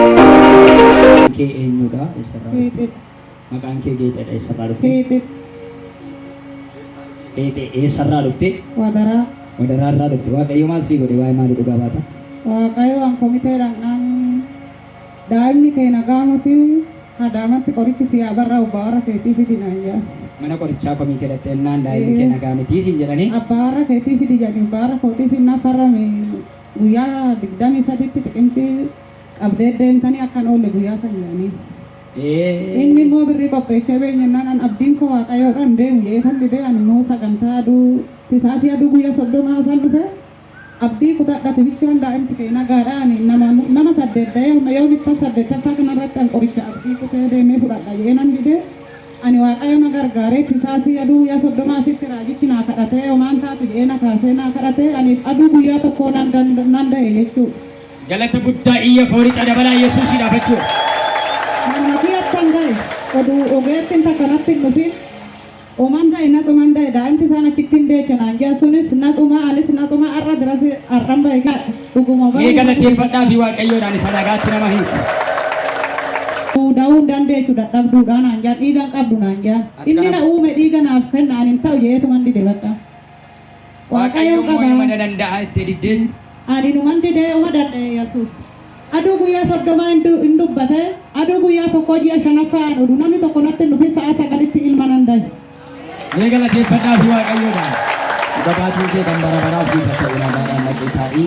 Maqaan kee eenyudha? Eessarraa dhufte? Maqaan kee Geexedha. Eessarraa dhufte? Geexe eessarraa dhufte? Wadaraa Wadaraarraa dhufte. Waaqayyo maal sii godhe? Waa'ee maalii dhugaa baata? Waaqayyo waan komiteedhaan Daa'imni kee nagaa moti? Adaamatti qorichi sii haa barraa'u abbaa warra keetii fidi naan jedhan. Mana qorichaa komiitee dhaxxeennaan daa'imni kee nagaa mitii siin jedhanii? Abbaa warra keetii fidi jedhanii abbaa warra kootii finnaaf farrame guyyaa 23tti xiqimtii qabdee deemtanii akka hin oolle guyyaa san jedhanii. Inni immoo birrii qopheechee beeyne jennaan an abdiin koo waaqayyoodha hin deemu jedheetan didee ani immoo sagantaa aduu tisaasii aduu guyya 30 san dhufe. Abdii kutadha tibichaan daimti kee nagaadha ani nama nama saddeet dayee homa yoo bittan saddeettaffaa kanarratti an qoricha abdii kutee deemee fudhadha jedhee nan didee ani waaqayyo na gargaaree tisaa sii aduu guyyaa soddoma asitti raajichi naa kadhatee homaan taatu jedhee na kaasee naa kadhatee ani aduu guyyaa tokkoo nan danda nan da'e jechuudha. Galata guddaa iyya foorica dabalaa yesuusiidhaaf jechuudha. Manuma kiyyattan da'e oduu ogeettiin takka natti hin dhufin Oman baye na tsuman baye daimti sana kittin decha naan jea sunis na tsuma anis na tsuma arra dirasi arran baye ka dhuguma baye Mee nama galateeffadhaa jechudha. fi waaqayyoodhaan isa dhagaatti nama hiiku. Da'uu hin dandeechu dadhabduudha naan jea dhiiga hin qabdu naan jea. Inni na uume dhiiga naaf kenna ani hin ta'u jeetuman dide bakka. Waaqayyoon qaba. Waaqayyoon mana danda'a itti diddee. Ani numan didee uma dadhe yesus. Aduu guyyaa soddomaa hin dubbate aduu guyyaa tokkoo ji'a shanaffaa an odu namni tokko natti hin dhufin sa'a sagalitti ilma nan dahe. Mee galateeffadhaa fi waaqayyoodha. Dhuga baatiin kee kan bara baraa siif haa ta'u nagaadhaan dhaqee taa'ii.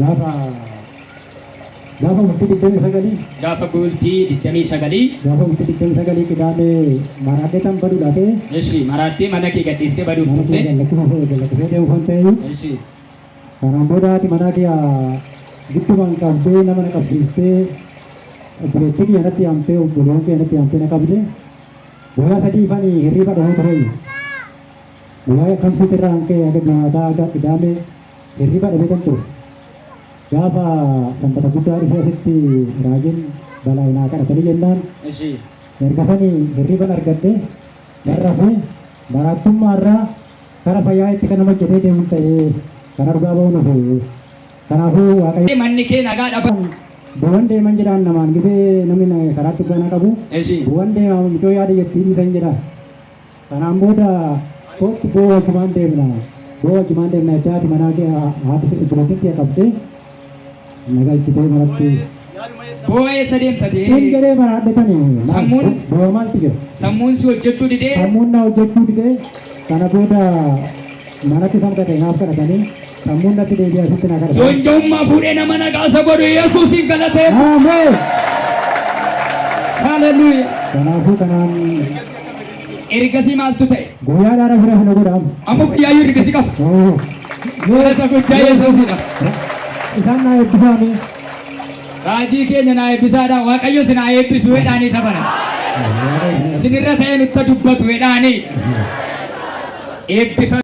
Gaafa gaafa bultii digdamii sagalii Gaafa bultii digdamii sagalii gaafa bultii digdamii sagalii qidaamee maraadhee tan baduu laatee Eshi maraattee mana kee gadhiistee baduuf mana kee turte. gallakkisa fa'ee gallakkisee deemu kan ta'eyyuu Eshi kanaan booda haati manaa kiyya giddumaan qabdee nama na qabsiistee obboleettii kiyya natti yaamtee obboleewwan kiyya natti yaamtee na qabde guyyaa sadii fani hirriba dhahuu tureeyyu. Guyyaa Kamsiit irraa kan ka'e haga Jimaataa haga Qidaamee hirriba dhabeetan ture. Gaafa Sanbata guddaa dhufee asitti raajiin balaa naa kadhatanii jennaan Ishii. erga sanii hirriban argadhe nan rafee maraattummaa irraa kara fayyaa itti kan nama hojjetee deemun ta'ee kan argaa ba'uun hafe. Kanaafuu Waaqayyo Manni kee nagaa dhaba. bu'an deeman jedhaan namaan gisee namni na- karaatti dhugaa na qabu Ishii. bu'an deemaa mucoo yaada jettii dhiisan jedha. Kanaan booda koottu boo wajjumaan deemna boo wajjumaan deemna jechaa haati manaa kee haati bultiin kee qabdee na galchitee manatti. Boo eessa deemta Tun tee? jedhee maraadhe tani Sammuun- boo maalti jira? Sammuun si hojjechuu didee Sammuun na hojjechuu didee kana booda manatti samgadee naaf kadhatanii Sammuun natti deebi'e asitti na kadhata. Joonja'ummaa fuudhee nama nagaasa godhu Yesuusiin galatee. Ameen. Haleluuyaa. Kanaafuu kanaan Ergasii maaltu ta'e? guyyaa dhaara fira fina godhaamu. Amma guyyaa yoo ergasii qabu. Oo. Galata guddaa Yesuusidha. Isaan naa eebbisaame. Raajii keenya naa eebbisaadha. Waaqayyo si naa eebbisu jedhaanii isa bara. Sinirra ta'een itti dubbatu jedhaanii. Eebbifame.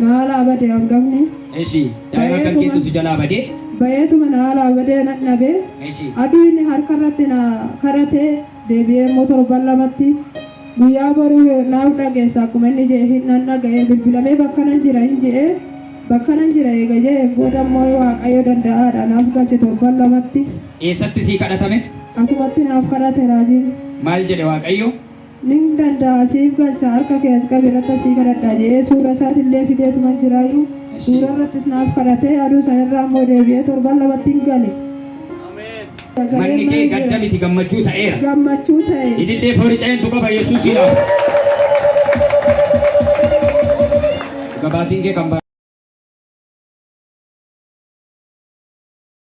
na aalaa bade angafni. Eshi daima kan ketu si jalaa badee. Bayeetuma na aalaa badee nan dhabe. Eshi. Aduu inni harka irratti na kadhate deebi'ee immoo torban lamatti guyyaa boruu yoo naaf dhageessa akkuma inni je'e hin nan dhaga'e bilbilamee bakkanan jira hin je'e bakkanan jira eega je'een booda immoo yoo waaqayyo danda'aadha naaf galche torban lamatti Eessatti sii kadhatame? asumatti naaf kadhate raajiin. Maal jedhe waaqayyo? Nin danda'a siif galcha harka kee as qabi irratti asii kadhadha jedhee suura isaatillee fideetuman jiraayyuu suura irrattis naaf kadhatee aduu sanirraa immoo deebi'ee torban lamattiin gale. Manni kee gadda miti gammachuu ta'eera. Gammachuu ta'e. Ilillee foorica'eentu qaba Yesuusiidhaaf. Gabaatiin kee kan